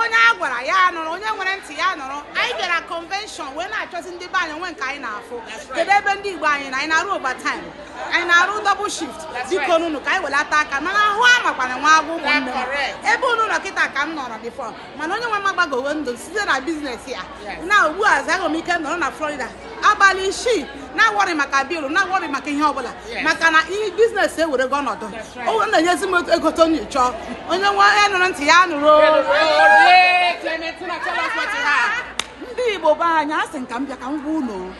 onye a gwara ya nụrụ onye nwere ntị ya nụrụ anyị bịara convention wee na-achọzi ndị be anyị o nwe nke anyị na-afụ kedu ebe ndị igbo anyị nọ anyị na-arụ overtime anyị na-arụ double shift bikonunu ka anyị welata aka mana ahụ amakwana nwa agwụ ụmụnne m ebe unu nọ kịta ka m nọrọ before mana onye nwe m agbagowo ndụ site na biznes ya na ugbu a zaghị m ike nọrọ na florida abalị isii na-awọrị maka bilu na-awọrị maka ihe ọbụla maka na ihe biznes ewerego ọnọdụ o na-enyezi m ego otu onye chọọ onye nwe ya nụrụ ntị ya nụrụ ndị igbo be anyị asị m ka m bịa ka m gwa unu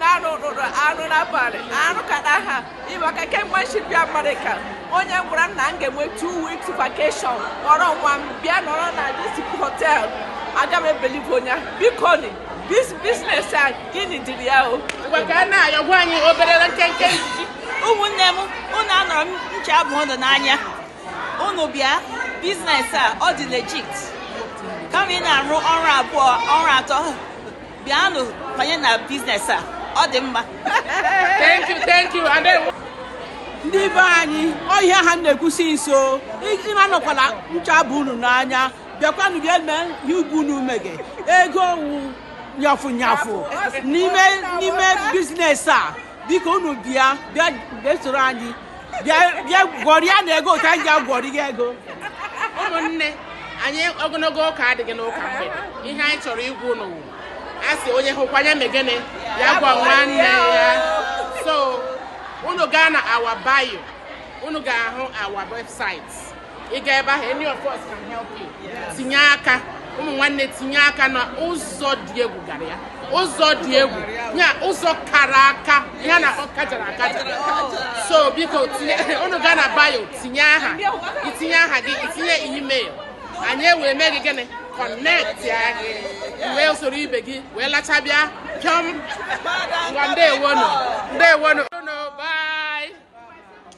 na-arụ rụrụ arụ n'abalị arụ ka na ha ịma ka kemgbe m si bịa amerịka onye gwara m na m ga-enwe two weeks vacation kpọrọ nwa m bịa nọrọ na this hotel aga m ebelieve onye ahụ. bikonụ bis biznes a gịnị dịrị ya o Ngwa ka a na-ayọ gwa anyị obere nkenke nzuzi. ụmụnne m unu anọrọ ncha aba unu n'anya unu bịa biznes a ọ dị legit kama ị na-arụ ọrụ abụọ ọrụ atọ bịanụ banye na biznes a ọ dị mma thank you thank you adewo ndị be anyị ọ ihe a ha na-ekwu since o unu anọkwala ncha baa unu n'anya bịakwanụ bịa mee ihe ibe unu mege ego wụ nyafụ nyafụ n'ime n'ime biznes a biko unu bịa bịa bịa soro anyị bịa bịa gwọrịa na ego otu anyị ji agwọrị gị ego ụmụnne anyị ogologo ụka adịghị n'ụka mgbede ihe anyị chọrọ ịgwa unu wụ a sị onye hụkwa ya mee gịnị ya gwa nwanne ya so unu gaa na our bio unu ga-ahụ our website ị ga ebe ahụ any of us can help you tinye aka ụmụ nwanne tinye aka na ụzọ dị egwu gara ya ụzọ dị egwu ya ụzọ kara aka ya na ọ kajara akaja so biko unu gaa na bio tinye aha itinye aha gị itinye email anyị ewee mee gị gịnị connectịa gị wee soro ibe gị wee lacha bịa pịọm ngwa ndewonu ndewonu